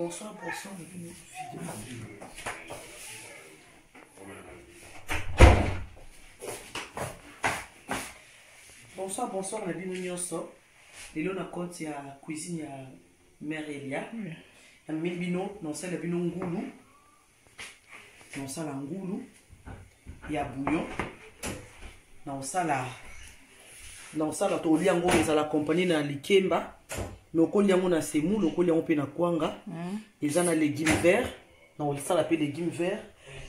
Bonsoir, bonsoir, bonsoir bonsoir na bino nyonso lelo na compte ya cuisine ya mère elia namemi bino na osala bino ngulu naosala ngulu ya bouillon naosala naosala tokolia yango ezala accompagne na likemba me okoli yango na semoule okoli yango mpe na kwanga mm. eza na legume vert naosala mpe legume vert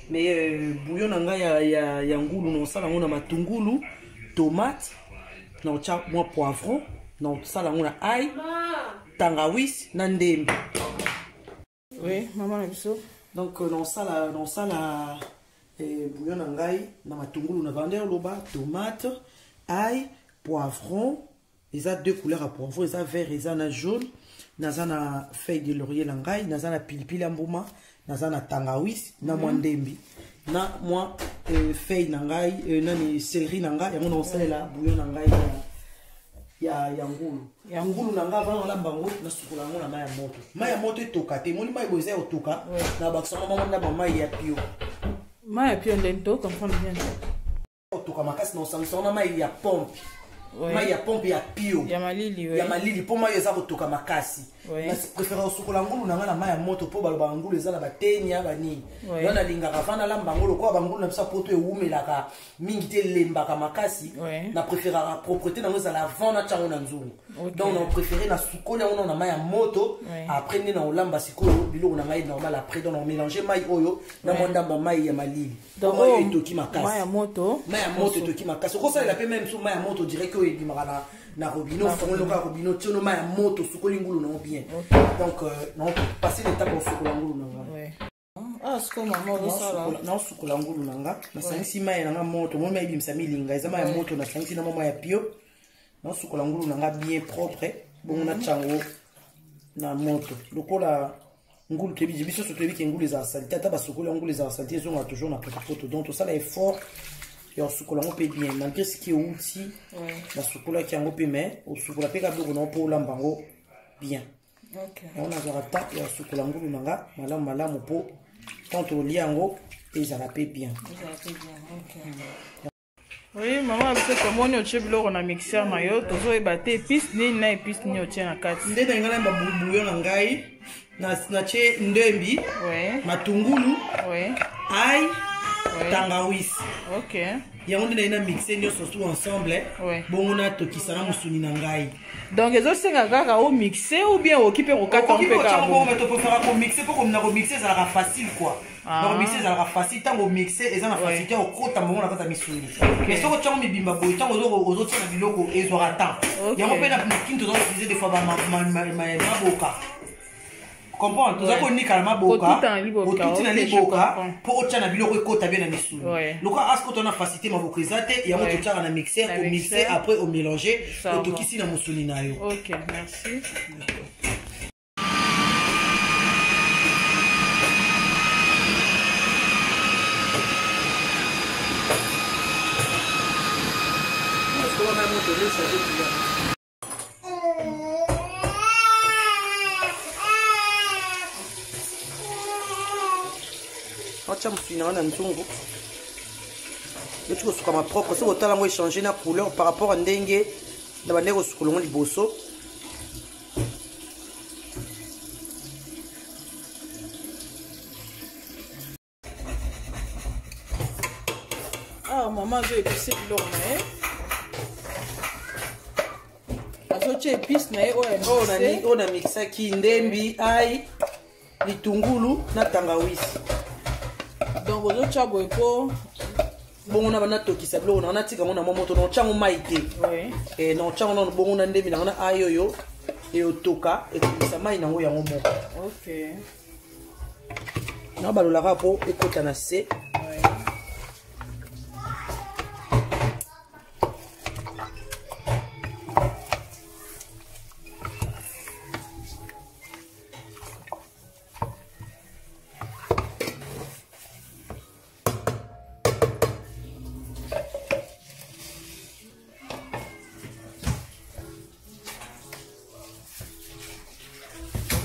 me euh, bouillon na ngai ya, ya, ya ngulu naosala yango na matungulu tomate naotya mwa poivron naosala yango na ai tangawis na ndembe oui mama na biso donc euh, naosala naosala eh, bouillon na ngai na matungulu na vander loba tomate ai poivron eza deux couleurs ya poivron eza vert eza na jaune naza na feuille de laurier na ngai naza na pilipili ya mbuma naza na tangawis na mwa mhm. ndembi na mwa euh, feuille na ngai euh, nani celerie na ngai yango naosalela bouillon na ngai ya, ya, ya ngulu ya ngulu na ngai avanda nalamba yango nasukola yango na mai ya moto mai ya moto etoka te moni mai boye eza ya otoka na bakisama bango na bamai ya pio mai ya pio nde nto comprendre bien otoka makasi na osangisa wana mai ya pompe mai ya pompe ya pio ya malili ya malili mpo mai eza kotoka makasi prefere kosukola ngulu na ngai na mai ya moto mpo balobaka ngulu eza na batenia banini yo nalingaka vanda lamba yango lokola bangulu na biso poto ewumelaka mingi te elembaka makasi ouais. na préféraka propreté nango ezala avant na tiango na nzungu okay. donc na préféré na sukoli yango na mai ya moto ouais. après nde na olamba sikoyo biloko na ngai normal après donc na omélange mai oyo na mwa ndambo ya mai ya malili donc oyo etoki makasi mai ya moto mai ya moto etoki makasi okosalela mpe mai mosusu mai ya moto direct oyo ebimaka na na robino ofongoli lokola robino tio no mai ya moto osukoli ngulu nango bien donc euh, na passer l'étape osukola ngulu na ngai Ah, naosukola ngulu na nga nasangisi mai na nga moto moi mai ebimisa milinga eza mai ya moto nasangisi na mama ya pio naosukola ngulu na nga bien propre bongo mhm. natya yango na moto lokola ngulu toyebi biso so toyebi ke ngulu ezala salite ata basukoli ya ngulu ezala salite ezonga toujours na potopoto donc tosala effort ya kosukola yango mpe bien malgré soki euti nasukolaki yango mpe mai osukola mpe kabiloko na yo mpo olamba yango bien yango nazwaka temps ya sukola ngulu na nga malamu malamu mpo quand olia yango ezala mpe bien oui mama biso tomoni otie biloko na mixeur na yo tozoyeba te epice nini na epice nini otie na kati nde na ngai na babouyo na ngai natie ndembi matungulu ai tangawis yango nde naye na mixe nyonso su ensemble bongo natokisa na mosuni na ngai donc ezosenga kaka o mixe ou bien okoki mpe kokata mpe kakotopofaka komixe mpo komina komixe ezalaka facile kua ah. donc mixe ezalaka facile ntango mixe eza na facilité ya kokota mongo na kati ya misuni mais soki otiango mibimba boye ntango ozotia na biloko ezwaka temps yango mpe na kinto oza utilize des fois maboka comprendre toza konika na maboka otuti na liboka mpo otya na biloko ekota bie na misuni lokola askota na facilité maboko eza te yango totyaka na mixer omixe après omélange otokisi na mosuni na yo okay, merci. Thank you. atya mosuni na ngai na nzungu neti kosukama propre soki otala yango echange na couleur par rapport ya ndenge na bandenge kosukola yango liboso awa ah, mama azo epise biloko na ye azotya epice na ye oyo na mixaki ndembi ai litungulu na tangawisi donc ozotya boye po bongo na bana tokisa biloko na wana tika ngo na mwa moto na otyango mai te eh, na otyango nano bongo na ndembi na ngo na ayoyo eyotoka ekomisa mai na yango yango moko okay. nabalolaka mpo ekota na se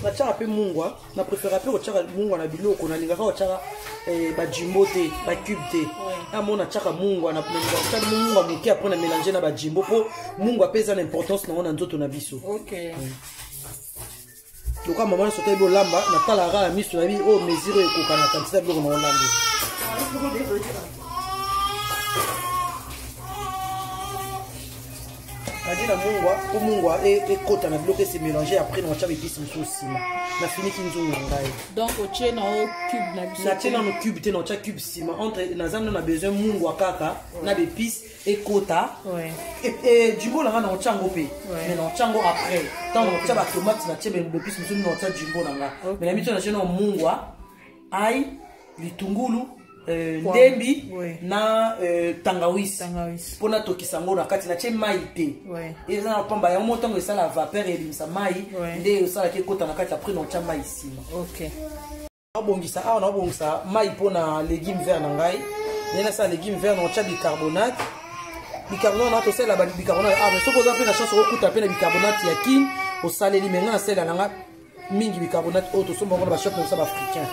natyaka mpe mungwa na préféra mpe kotyaka mungwa na biloko nalingaka kotyaka eh, bajimbo te bacube te yango natyaka mungwa natyaka mungwa moke apres na mélange na bajimbo mpo mungwa mpe eza na importance nango na nzoto na biso okay. mm. lokola mama nyonso otebi olamba natalaka kaka na miso na bi oyo mesure oyo ekokana kantite ya biloko na olambi kadi na mungwa mpo mungwa e, ekota na biloko ese mélange après na watya bepisi mosusu nsima nafiniki nzungu na ngai donc otie na o cube na biso natie nano cube te na otya cube nsima entre naza nano na besoin mungwa kaka na bepisi ekota jimbo na ngai na otya yango mpe me na otya yango après ntango otya batomate na tie bepisi mosusu na otya jimbo na ngai me na mityo na tie na mungwa ai litungulu Euh, ndembi na euh, tangawisi mpo natokisa yango na kati natye mai te eza na mpamba yango mo ntango esala vapeur ebimisa mai nde esalaki ekota na kati apres na otya mai nsima nabongisa awa nabongisa mai mpo na legume vert na ngai nde nasala legume vert naotya bicarbonate bicarbonate na tosalela bicarbonate awa soki oza mpe na chance okokuta mpe na bicarbonate ya kin osaleli me ngai nasalela na ngai mingi bicarbonate oyo tosomba ngo na bashop na biso baafricain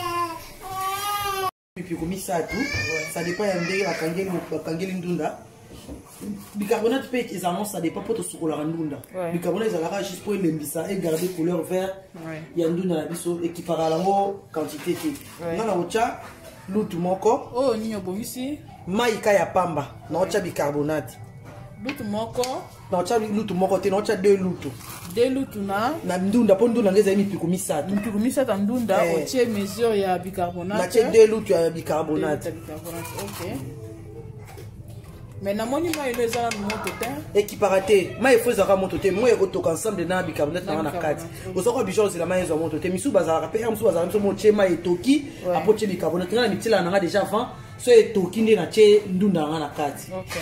mipiko misato ça dépend ya ndenge bakangeli ndunda bicarbonate mpe ezalaka ça dépend mpo tosukolaka ndunda bicarbonate ezalaka juste mpo elembisa egarde couleur vert ya ndunda na biso ekipaka yango quantité te nga na kotya lutu moko oyo oh, nini obongisi mai ka ya pamba naotya bicarbonate lutu moko naotya lutu moko te naotya deux lutu de lutuna na ndunda mpo ndunda nde ezali mipiku misato mipiku misato ya ndunda eh. otie mesure ya bicarbonate natie de lutu ya bicarbonate mais namoni mai elo eza nanu moto te ekipaka te mai efo ezalaka moto te moi ekotoka ensemble na bicarbonate nanga na kati ozalaka bijo ozela mai ezwa moto te misusu bazalaka mpe mosusu bazalaka biso motie mai etoki apo tie bicarbonate ngai na mitielaka nanga déjà avant so etoki nde natie ndunda nanga na kati okay.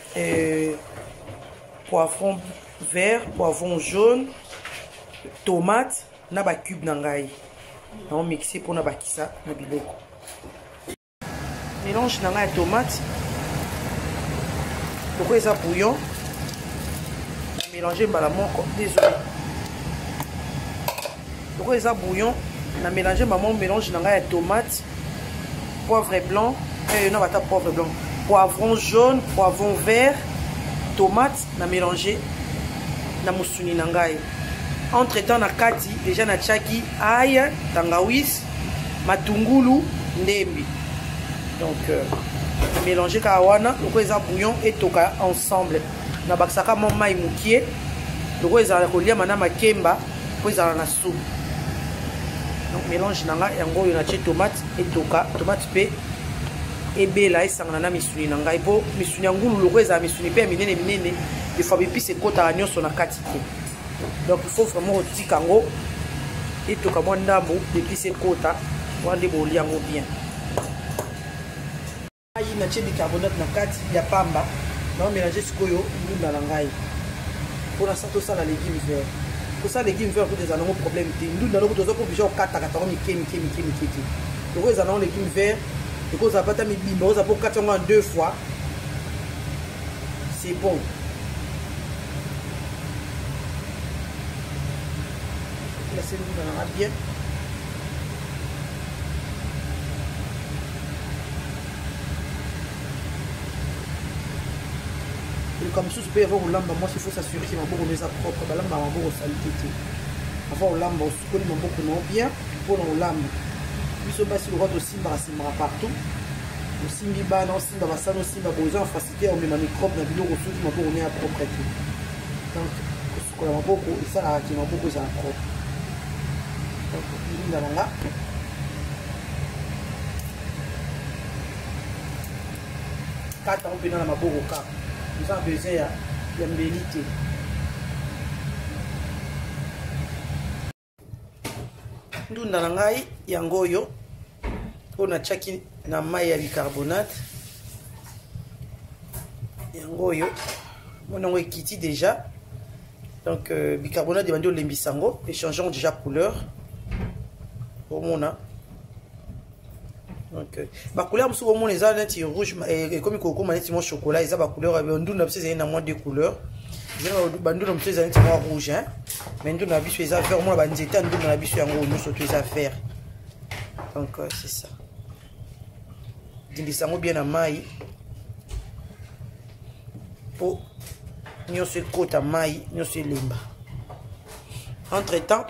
euh, poivron vert poivron jaune tomate na bacube na ngai nao mixe mpo na bakisa na biloko mélange na ngai ya tomate loko eza bouillon na mélange mbala moko désolé Lokola eza bouillon, na mélanger maman mélange na ngai ya tomate, poivre blanc, eh, na bata poivre blanc, poivron jaune, poivron vert, tomate na mélanger na musuni na ngai. Entre temps na kati déjà na tiaki ail, tangawis, matungulu, ndembi. Donc euh, mélanger kawana, lokola eza bouillon etoka ensemble. nabakisaka mwa mai mokie lokola ezalaka koliama na makemba mpo ezala na supu donc mélange na ngai yango oyo natie tomate etoka tomate mpe ebela esangana na misuni na ngai mpo misuni ya ngulu lokola ezala misuni mpe ya minene minene efwa bipisi ekotaka nyonso na kati te donc il faut vraiment kotika yango etoka mwa ndambo bipisi ekota wana nde bolia yango bien Ngai na tie bicarbonate na kati ya pamba na mélanger sikoyo ndunda na ngai mpo na sa tosala legume vert kosala legume vert kuta ezala nango problème te ndunda lokuta oza kobija okatakata yango mike mike mike mike te loko ezala nango legume vert ekozala pata mibimba oza mpo okati yango ya deux fois c'est bon lase ndunda nanga bien likambo mosusu mpe avant kolamba mwasi faut s'assurer ke maboko no eza propre balamba maboko salite te avant kolamba osukoli maboko nao bien mpo na kolamba biso basi lokola tosimbaka simbaka partout osimbi bana osimba basani osimba boza na facilité ya komema microbe na biloko soki maboko no ya propre te donc kola maboko esalaka ke maboko ezala propre linga na nga kata yango mpena na maboko kaka oza na besoin ya mbeli te ndunda na ngai yango oyo oyo natyaki na mai ya bicarbonate yango oyo mona yango ekiti déjà donc euh, bicarbonate ebandi olembisa yango echangeons déjà couleur omona Okay. bacouleur mosusu komona eza neti rouge eh, ekomi kokoma neti mwa chocolat eza bacouleur ya ndunda biso ezali na mwa de couleur bandunda mosusu eza neti mwa rouge hein? mais ndunda na biso eza vert omona banzete ya ndunda na biso yango nyonso to eza vert donc euh, c'est ça dindisa yango bien na mai mpo nyonso ekota mai nyonso elemba entre temps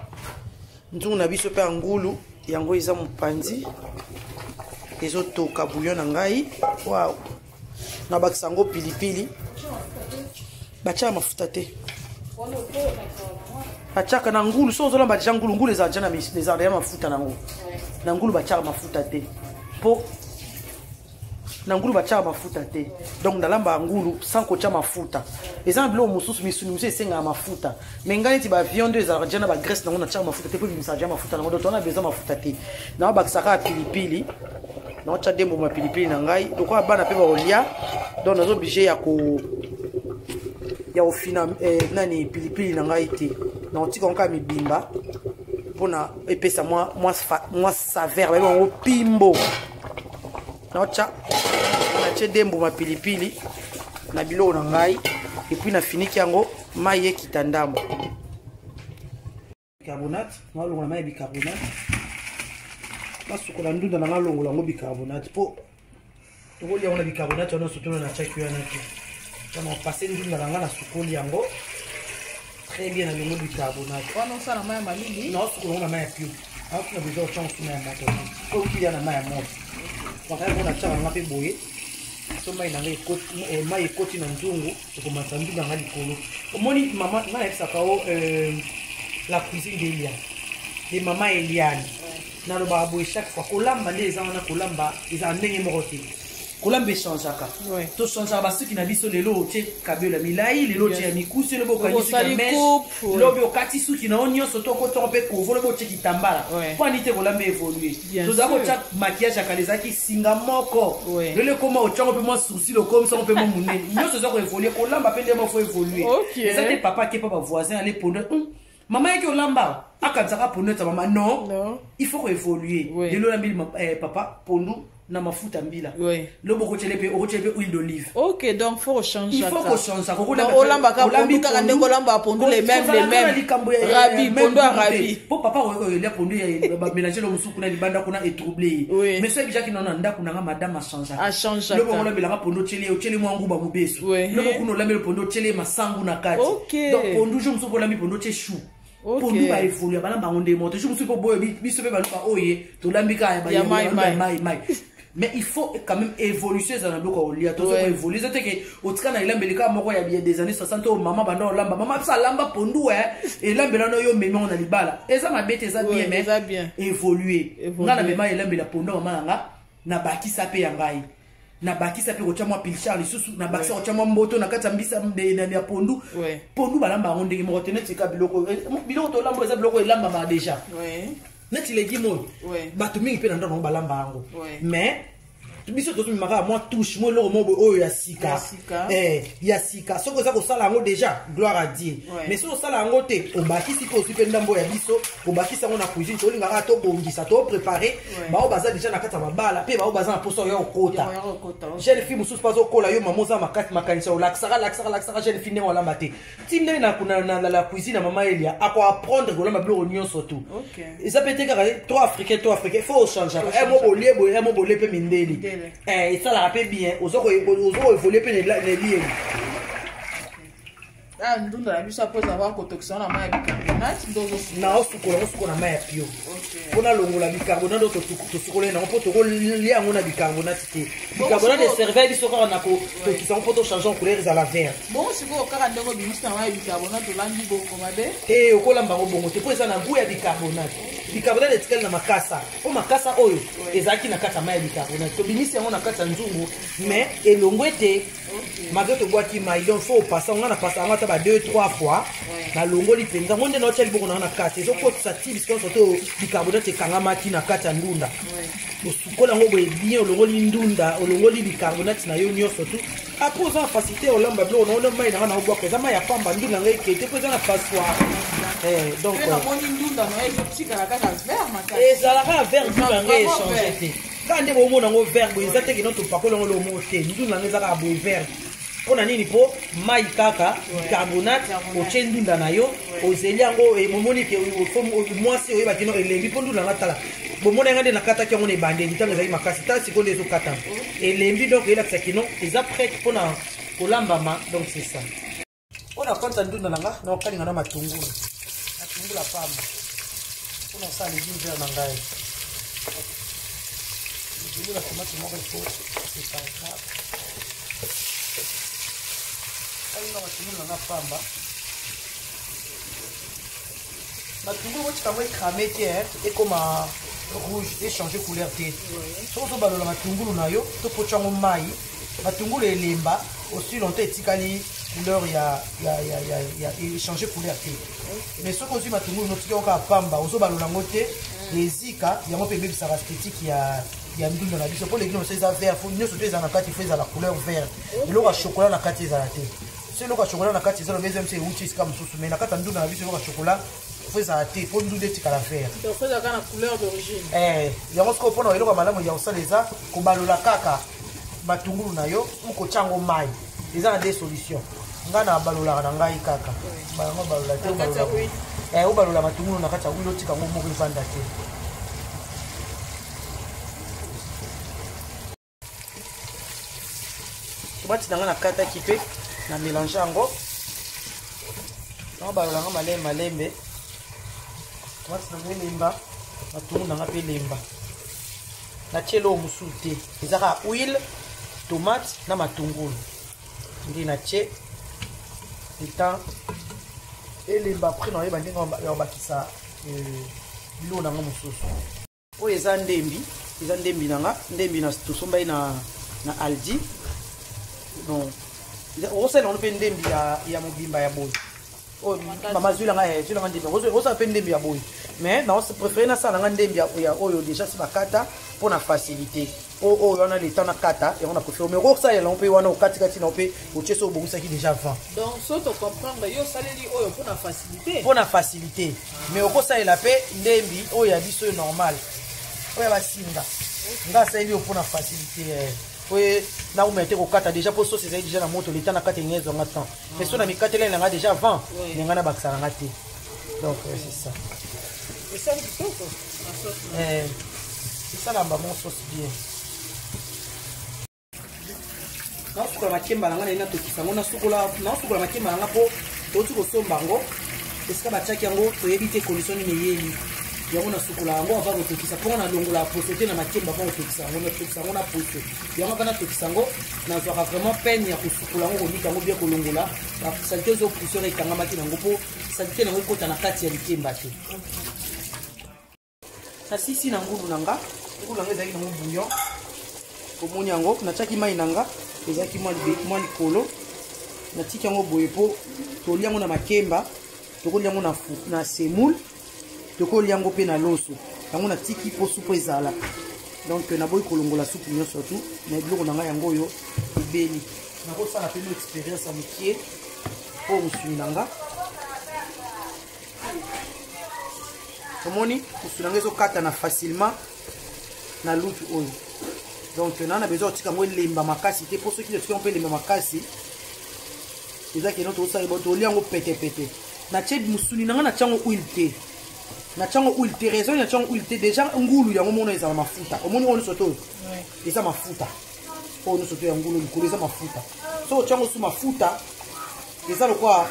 nzungu na biso mpe ya ngulu yango eza mopanzi ezotoka bouillon na ngai waw nabakisa yango pilipili batyaka mafuta te batyaka na ngulu so ozolamba deja ngulu ngulu ezala deja na ezala deja mafuta na yango na ngulu batyaka mafuta te mpo na ngulu batyaka mafuta te donc nalambaka ngulu sans kotya mafuta eza na biloko mosusu misuni mosusu esengaka mafuta mai ngai neti bavion nde ezalaka dya na bagrece nango natyaka mafuta te mpo ebimisaka dya mafuta nango doto wana beza mafuta te naobakisaka pilipili naotya de mbuma pilipili na ngai lokola bana mpe bakolya donc naza oblige ya ko ya kofina eh, nani pilipili na ngai te naotika yango kaka mibimba mpona epesa mwa, mwa, mwa saveur bayebi yango pimbo naotya natie de mbuma pilipili na biloko na ngai epuis nafiniki yango mai ekita ndambo bicarbonate nalongola mai ya bicarbonate nasukola ndunda na nalongola yango bicarbonate mpo tokolia yango na bicarbonate wana sotola na tiaki wana te mpona pase ndunda na ngai nasukoli yango très bien na lelo bicarbonate wana osala mai ya malili na osukola na mai ya pio aoki na besoin otya mosu mai ya moto te okuya na mai ya moto makaya mona tyaka nanga mpe boye so mai nanga eh, mai ekoti na nzungu ekomatisa nzungu yanga likolo omoni mama nga nayebisaka o oh, euh, la cuisine de eliane de mama eliane nalobaka boye chaque fois kolamba nde eza wana kolamba ezala ndenge moko te kolamba echangeaka Ouais. tochangeaka basuki na biso lelo otie kabela milai lelo otie ya mikuse lobi okangi suki ya Osali meshe coupe, ouais. lobi okati suki na yo nyonso to okotoko mpe kovo lobi otie kitambala Ouais. mpo ani te kolamba evolue Bien tozala sûr. kotya makiyage ya kala ezalaki singa moko Ouais. lelo ekoma otyango mpe mwa sourcil okomisango mpe mwa monene nyonso eza koevolue kolamba mpe ndenge moko fo evolue Okay. eza te papa akepa bavoisin ale ponda mama yaki olamba akanisaka pondu eza mama non no. il faut koévoluer oui. lelo olambeli eh, papa pondu na mafuta mbila oui. lobo okotyele mpe okotyele mpe huile d'olive ok donc faut ochange il faut kochange olambaka pondu kaka ndenge olambaka pondu le même le même likambo ya rabi pondu ya rabi mpo papa oyekoyelia pondu ya bamélange lo mosusu kuna libanda kuna etrouble ye mais soki jaki nao na ndako na nga madame achangeaka loko yango olambelaka pondo otyeli ye otyeli mwa nguba mobesu loko kuna olambeli pondo otyeli ye masangu na kati donc pondu jour mosusu mpo olambi pondo otye chou pondu baevolua balamba yango nde moto jour mosusu mpo boyo biso mpe baluka oye tolambi kaka ya maimai mais il faut quand même évolution ezala na biloko ya kolia tozo koévolue eza te ke otika na elambeli kaka moko ya biye des années 60 oyo mama banda olamba mama biso alamba pondu e elambela no yo omemi yango na libala eza mabe te eza bien mais évolue nga na mema elambela pondu ya mama na nga na bakisa pe ya ngai na bakisa pe kotya mwa pilchar lisusu na bakisa kotya mwa mboto na kati ya mbisa ya pondu pondu balamba yango ndenge moko te neti ka biloko eh, biloko tolamba eza biloko elambama deja neti legime oyo bato mingi mpe na ndako yango balamba yango mais biso tozomimaka mwa touche mo eloko moko oyo ya sika eh, ya sika soki oza kosala yango déjà gloire à dieu ouais. mais soki osala yango te obakisi mpe ozwi mpe ndambo ya biso kobakisa yango na cuisine tolingaka tobongisa toprépare ouais. baoyo baza déjà na kati ya mabala mpe baoyo baza na mposa oya okota jeune fille mosusu mpe azokola yo mama oza makati makanisa olakisaka lakisaka lakisaka jeune fille ndenge olamba te ti ndenge na kuna na la cuisine ya mama elia ako apprendre kolamba biloko nyonso tu eza mpe te kaka to africain to africain fo ochangeaka e eh, mo bolie boye e eh, mo bolie mpe mindeli eh, esalaka mpe bien oza koevolie mpe na elieli ah, ndunda na biso apres avoir kotokisa wana mai ya bicarbonate nde ozosukola osukola mai ya pio mpo nalongola bicarbonate oyo tosukola ye nango mpo tokolia yango na bicarbonate te bicarbonate eserve biso kaka na kotokisa yango mpo tochange couleur ezala verte bongo sikoyo kaka ndenge obimisi na ya bicarbonate olambi bongo mabe te eh, okolamba yango bongo te mpo eza na gout ya bicarbonate bicarbonate etikali na makasa mpo makasa oyo ezalaki na kati ya mai ya bicarbonate tobimisi yango na kati ya nzungu mais elongo ete mazo tobwaki mai donc fo opasa nga na pasa yango ata ba 2 3 fois nalongoli mpenza ngo nde naotya liboko nanga na kati ezokotisa ti bisikoso to bicarbonate ekangamaki na kati ya ndunda osukola yango boye bien olongoli ndunda olongoli bicarbonate na yo nyonso tu apres oza na facilité olamba biloko nango nde mai nanga na obwaka eza mai ya pamba ndunda yango ekei te mpo eza na passoir eh, donc euh, ezalaka vert ndunda yango echange te kaka nde bomona yango vert boye eza te kino topakoli yango lomo te ndunda yango eza kaka boye vert mpo na nini mpo mai kaka bicarbonate otye ndunda na yo ozeli yango momoni ke mwasi oyeba kino elembi mpo ndunda nga tala bomona yanga nde nakataki yango na ebandeli ntango ezali makasi ta sikoyo nde ezokatama elembi donc eyelakisa kino eza prete mpo na kolambama donc c'est ça mpo na kwanta ndunda na nga na okalinga na matungulu matungulu ya pamba mpo na osala legime vert na ngai ezali na tomate moko ifo epaka kalinga matungulu na nga pamba matungulu otika yango ekrame te eh, ekoma rouge echange couleur te soki ozobalola matungulu na yo to potya yango mai matungulu elemba aussi longtemps etikali couleur ya ya ya ya ya échanger couleur te mais soki ozwi matungulu notiki yango kaka pamba ozobalola yango te ezika yango mpe ebebisaka esthétique ya ya ndunda na biso mpo leki nyonso eza vert fo nyonso to eza na kati fo ezala couleur vert eloko ya chokola na kati ezala te so eloko ya chokola na kati eza loba eza mso euti esika mosusu mai na kati ya ndunda na biso eloko ya chokola faut ezala te mpo ndudu etikala vert eh, yango sikoyo mpo na eloko ya malamu ya kosala eza kobalola kaka matungulu na yo u kotya yango mai eza na de solution ngai nabalolaka na ngai kaka yango balola te eh, obalola matungulu na kati ya wilo otika yango moko evanda te tomati na ngai nakataki mpe na mélange yango yango balola yango malembe malembe tomati na ngai elemba matungulu na ngai mpe elemba natie eloko mosusu te eza kaka huile tomate na matungulu nde natie etant elemba après naoyeba ndenge ya kobakisa euh, biloko na yango mosusu oyo eza ndembi eza ndembi na nga ndembi na tosombaki na, na aldi bon okosala yango mpe ndembi ya, ya mobimba ya boye oyo oh, mama zwila nga eh, zwila nga ndembi okosala mpe ndembi ya boye mais na préféré nasala nga ndembi ya oyo déjà si bakata mpo na facilité oyo oh, oh, wana leta na kata yango na kofi omeko osalela yango mpe wana okatikati na yo mpe otie so obongisaki déjà avant donc so tocomprendre yo osaleli oyo mpo na facilité mpo na facilité mais okosalela mpe ndembi oyo ya biso oyo normal oyo ya basinga nga asaleli yo mpo na facilité eh. oye naumela te kokata déjà mpo sosi ezali déjà na moto leta na kata enga ezwanga temps mais so na mikateleli na nga déjà avant na nga na bakisa na nga te donc euh, c'est ça esali kitoko eh, esalamba mon sauce bien nasukola makemba na ngai naye natokisa yango nasukola makemba na ngai mpo touti kosomba yango esika batiaki yango toyebi te condition nini eyeli yango nasukola yango ava kotokisa mpo nga nalongola poso te na makemba ava kotokisa yango natokisa yango na poso yango ava natokisa yango nazwaka vraiment peine ya kosukola yango kolika yango bia kolongola salite ezo pousse oyo ekangamaki nango mpo salite nango ekota na kati ya likemba te nasisi na ngulu na nga ngulu na nga ezalaki nango bouillon omoni yango natiaki mai na nga ezalaki mwa likolo natiki yango boye mpo toli yango na makemba tokoli yango na semoule tokolia yango mpe na loso yango natiki mpo supu ezala donc naboyi kolongola supu nyonso tu na biloko na ngai yango oyo ebeli nakosala mpe no expérience ya mokie mpo mosuni na nga omoni mosuni na nga ezokatana facilement na lutu oyo donc naa na besoin kotika yango elemba makasi te mpo soki otika yango mpe elemba makasi eza keno tosala bo tolia yango petepete natie mosuni na ngai natia yango huile te natia yango huile te raison natia yango huile te déjà ngulu yango mona ezala mafuta omoni oyo nyonso toyo eza mafuta oyo nyonso toyo ya ngulu likolo eza mafuta so otia yango su mafuta eza lokola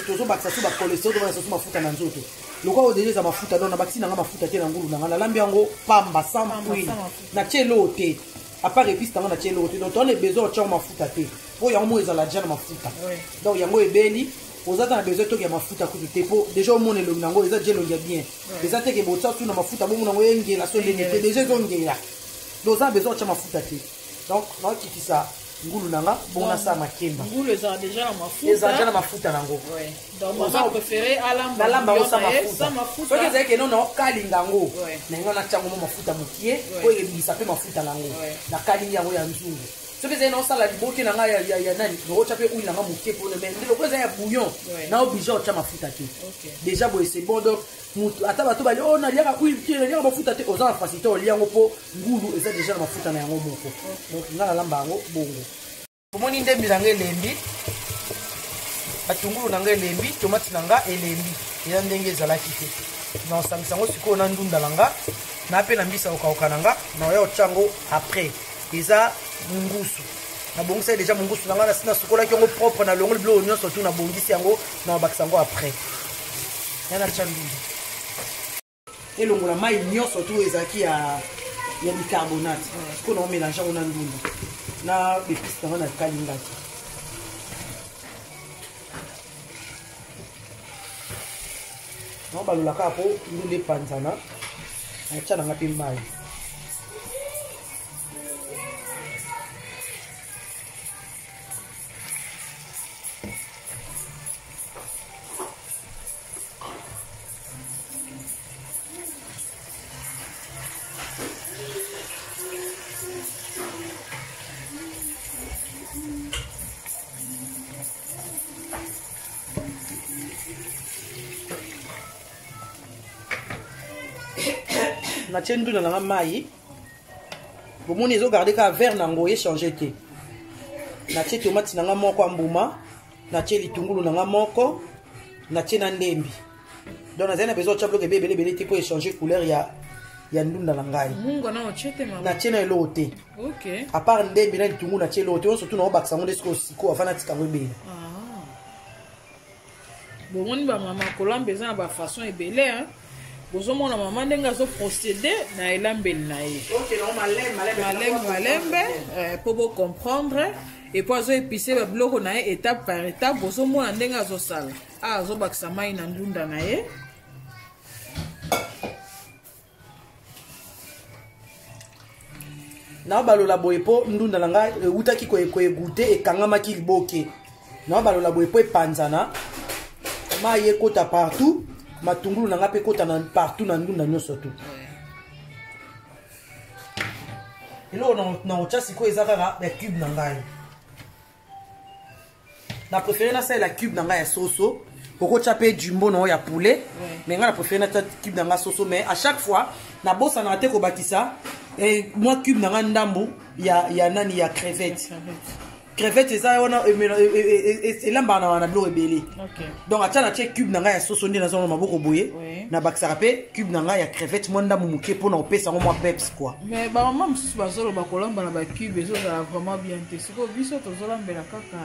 tozobakisa su bakoleseo tobakisa su mafuta na nzoto lokola oyo deja eza mafuta don nabakisi na ngai mafuta te na ngulu na ngai nalambi yango pamba sans huile natie eloo te apart epice nango natie eloko te donc towana ebesoin otiango mafuta te mpo yango moko ezala deja na mafuta donc yango ebeli oza ta na besoin toki ya mafuta kutu te mpo deja omona elongi nango eza deja elongi ya bien eza teke botia tu na mafuta bomona yango engela so ndenge te deja ezongela donc oza na besoin otia mafuta te donc naokitisa ngulu na nga bongo nasala makemba ezala deja na mafuta nango soki ezalaki eno na okalinga yango na yango natyango mo mafuta mokie oyo ebimisa mpe mafuta na yango nakalingi yango ya nzungu soki ezali na osala liboke na ngai ya nani naotya mpe oil na ngai moke mpona mai nde lokola eza ya bouillon na oblige otya mafuta te déjà boye c'est bon donc motu ata bato bali o oh, naliaka oil te naliaka mafuta te oza na facilité olia yango mpo ngulu eza déjà na mafuta na yango moko donc ngai nalamba yango bongo omoni ndembi na nga elembi batungulu na nga elembi tomati na nga elembi eza ndenge ezalaki te naosangisa yango sikoyo na ndunda na nga na mpe na mbisa kokauka na nga naoya otya yango après eza ngusu nabongisaki deja mongusu na ngai nasi nasukolaki yango propre na longoli biloko nyonso tu nabongisi yango na babakisa yango après yana tya ndunda elongola mai nyonso tu ezalaki ya ya bicarbonate mpo na omelange yango na ndunda na bepisi nango na kalingaki yango balolaka mpo ndunda epanzana natya nanga mpe mai natie ndunda nanga mai bomoni ezogarde kaka vere nango echange te natie tomati nanga moko ya mbuma natie litungulu na nga moko natie na ndembi donc nazali na besoin otya biloko ebe ebelebele te mpo echange couleur ya ya ndunda na ngai natie na eloko te apart ndembi na litungu natie eloko te nyonso tu naobakisa yango nde soki osiko afana atika yango ebele ah. bomoni bamama kolamba eza na bafaçon ebele bozomona mama ndenge azo procédé na elambeli na ye malembe malembe mpo eh, bocomprendre epo azo epise babiloko na ye étape par étape bozomona ndenge azosala a ah, azobakisa mai na ndunda na ye nabalola boye mpo ndunda na ngai ewutaki koegute ekangamaki liboke nabalola boye mpo epanzana mai ekota partout matungulu na ngai mpe ekota partout na ndunda nyonso tu eloko na kotya sikoyo eza kaka bacube na ngai na préféré nasalela cube na ngai ya soso okotya mpe jumbo na oyo ya poulet mais ngai na préféré natya cube na ngai soso mais à chaque fois nabosanaka te kobakisa eh, mwa cube na ngai ndambo ya, ya nani ya crevette crevette eza wana e, e, e, elambaka na wana biloko ebele donc atya natye cube na ngai ya soso nde nazonga maboko boye nabakisaka mpe cube na ngai ya crevette mwa ndambo moke mpo na kopesa yango mwa peps kua mais bamama mosusu bazoloba kolamba na bacube ezozala vraiment bien te sikoyo biso tozolambela kaka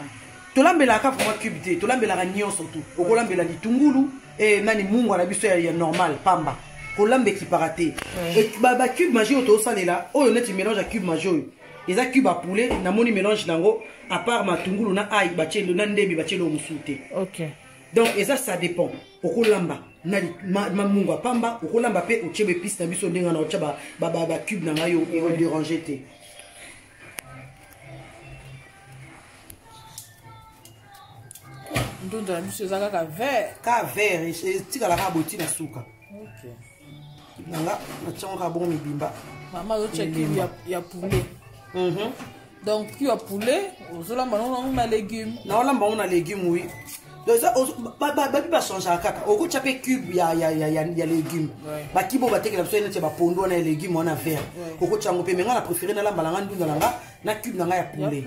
tolambelaka kaka vraiment cube te tolambelaka nyonso tu okolambela litungulu e nani mungwa na biso ya normal pamba kolamba ekipaka te bacube magie oyo tozosalela oyo neti mélange ya cube magie oyo eza cube ya poulet namoni mélange na yango apart matungulu na ai batielo na ndembi batielo mosusu te donc eza ça dépend okolamba na mamungu ya pamba okolamba mpe otie baepice na biso ndenge na otya bacube na ngai oderange te ndunda na biso eza kaka vert ka vert etikala kaka boti na suka nanga natyango kaka bongo mibimba mama azotya kiu ya poulet mhm. donc kiu ya poulet ozolamba nango nango na légume naolamba yango na légume wi babi bachangaka kaka okotya mpe cube ya, ya, ya, ya, ya légume bakibe oyo batekela biso neti ya bapondo wana ya légume wana vert okotya yango mpe me ngai na préféré nalamba na ngai ndunda na ngai na cube na ngai ya poulet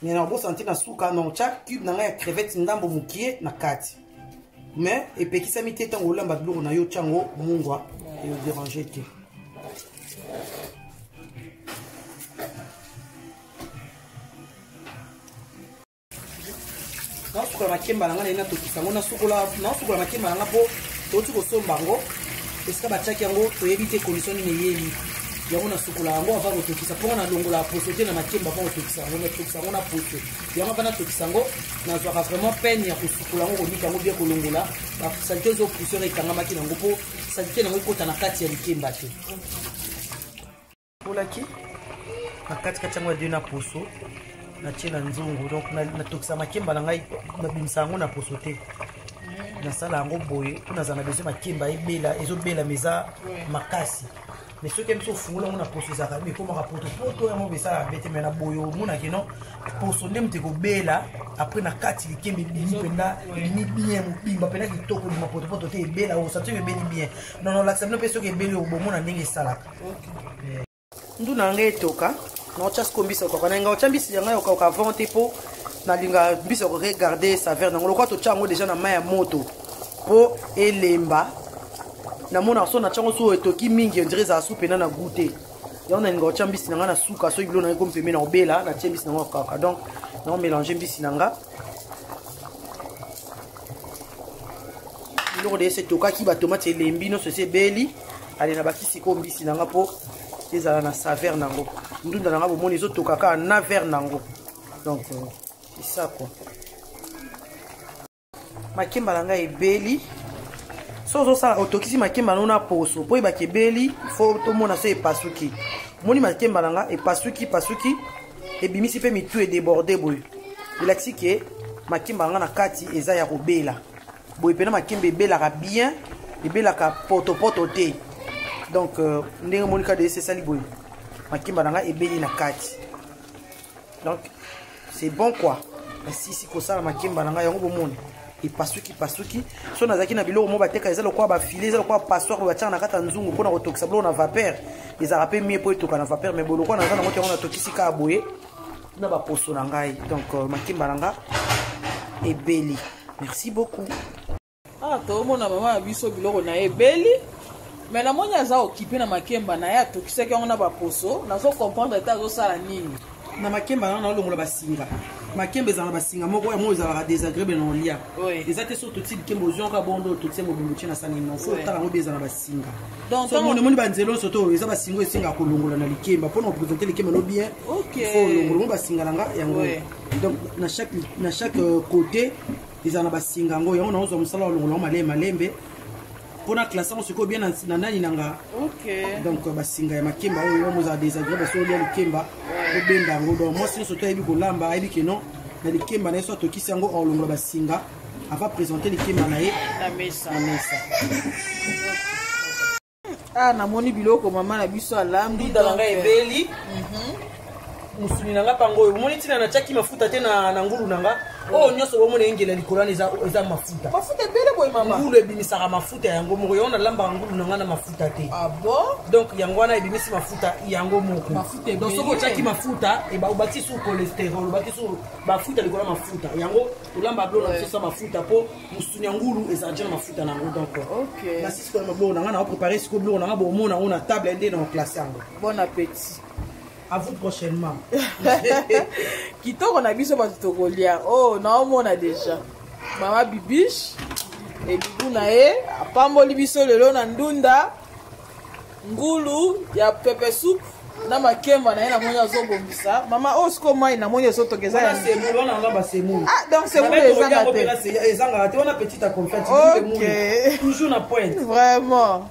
me na obosanti na suka na otya cube na ngai ya crevette ndambo mokie na kati mais epekisami te ntango olamba biloko na yo otya yango mungwa eoderange te naosukola makemba na ngai naye natokisa yango naosukola makemba na ngai mpo touti kosomba yango esika batiaki yango toyebi te kondisio nini eyeli yango nasukola yango ava kotokisa mpo nga nalongola poso te na makemba mpo kotokisa yango natokisa yango na poso yango ava natokisa yango nazwaka vraiment peine ya kosukola yango konika yango bie kolongola basalite ezo poussiere ekangamaki na yango mpo salite na yango ekota na kati ya likemba te olaki na katikati yango ya de na poso natie na nzungu donc natokisa makemba na ngai nabimisa yango na poso te nasala yango boye mpo nazala na besoin makemba ebela ezobela ma eza makasi mais soki biso ofungola yango na poso ezalaka mi ekomaka potopoto yango besalaka bete mai na boye omonaki no poso nde moto ekobela apres na kati likembe ebimi mpenza ebimi bien mobimba mpenza kitoko ebima potopoto te ebela osati oyo ebeli bien nono lakisa bino mpe soki ebeli obomona ndenge esalaka ndu na ngai etoka naotya siko mbisi okoka na ngai otya mbisi ya ngai okauka avant te mpo nalinga mbisi oko regarde saveur nango lokola totya yango deja na mai ya moto mpo elemba namonaka so natya yango so etoki mingi ondire ezala su mpena na goût te yango nalinga otya mbisi na ngai na suka soki bilo na ngai kompembe na obela natye mbisi na ngai okauka donc nao mélange mbisi na ngai biloko de ese etokaki batomati elembi nyonso esi ebeli ale na baki sikoyo mbisi na nga mpo ezala na saveur na yango ndunda na nga bomoni ezotoka kaka na vere na yango donc esa euh, kua makemba na ngai ebeli so ozosala otokisi makemba nango na poso mpo oyebaki ebeli fo tomona so epasuki omoni makemba na nga epasuki pasuki ebimisi mpe mitu edeborde boye elakisi ke makemba na nga na kati eza ya kobela boye mpena makemba ebelaka bien ebelaka potopoto te donc euh, ndenge omoni kaka dese esali boye makemba na ngai ebeli na kati donc c'est bon quoi nasisi kosala makemba na ngai yango bomoni epasuki pasuki so nazalaki na biloko moko bateka eza lokola bafile eza lokola passoir oyo batiaka na kati ya nzungu mpona kotokisa biloko na vapeur ezalaka mpe mie mpo etoka na vapeur mai bolokola naza nango te yango natokisi kaka boye na baposo na ngai donc euh, makimba na nga ebeli merci beaucoup ah toomona mama ya biso biloko na ye ebeli me namoni aza okipe na makemba na ye atokisaki yango na baposo nazo comprendre te azosala nini na makemba na naolongola basinga makemba ezala na basinga moko yango ezalaka désagréable na olia eza te so totie likemba oziwaka bondo totie mobimbo tie na sani nofo otala yango bi eza na basinga singa omoni banzela oso to eza basinga esenga kolongola na likemba mpona kopresente likemba no bien fo olongola ngo basinga na nga yango donc na chaque na chaque euh, côté eza na basinga yango yango naozwa mosala olongola ngo malembe malembe mpona classe yango sikoyo bien na nani na nga donc euh, basinga ya makemba oyo yango ozala desagreable soki olia likemba obenda yango donc mwasi nyonso to ayebi kolamba ayebi ke non na likemba na ye so atokisi yango olongola basinga ava présente likemba na ye na mesa ah namoni biloko mama na biso alambi dala ngai ebeli mhm. mosuni na ngai mpango oyo omoni ntina natyaki mafuta te na ngulu na ngai oyo nyonso bomona engela likolo wana eza mafuta mafuta ebele boye mama ngulu ebimisaka mafuta yango moko yango nalambaka ngulu na ngai na mafuta te ah donc yango wana ebimisi mafuta yango moko donc soki otyaki mafuta obakisi su cholesterol obakisi mafuta likolo ya mafuta yango olamba blo na biso sa mafuta mpo mosuni ya ngulu ezala ntina mafuta na yango donc nasisikola mablo na ngai na baprépare sikoyo biloko na ngai bomona yango na table nde na baplace yango bon appétit à vous prochainement kitoko na biso bato tokolia o oh, naomona déjà mama bibiche ebibu na ye apamboli biso lelo na ndunda ngulu ya pepe soup na makemba na ye namoni azobongisa mama oyo oh, siko mai namoni ezotoka eza ya semoule wana wana basemoule ah donc semoule ezanga te ezangaka te wana petite a confete ok toujours na pointe vraiment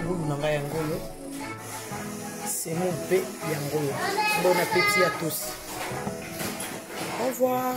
ngulu na ngai yango oyo semo mpe yango oyo bon apeti ya tosi au revoir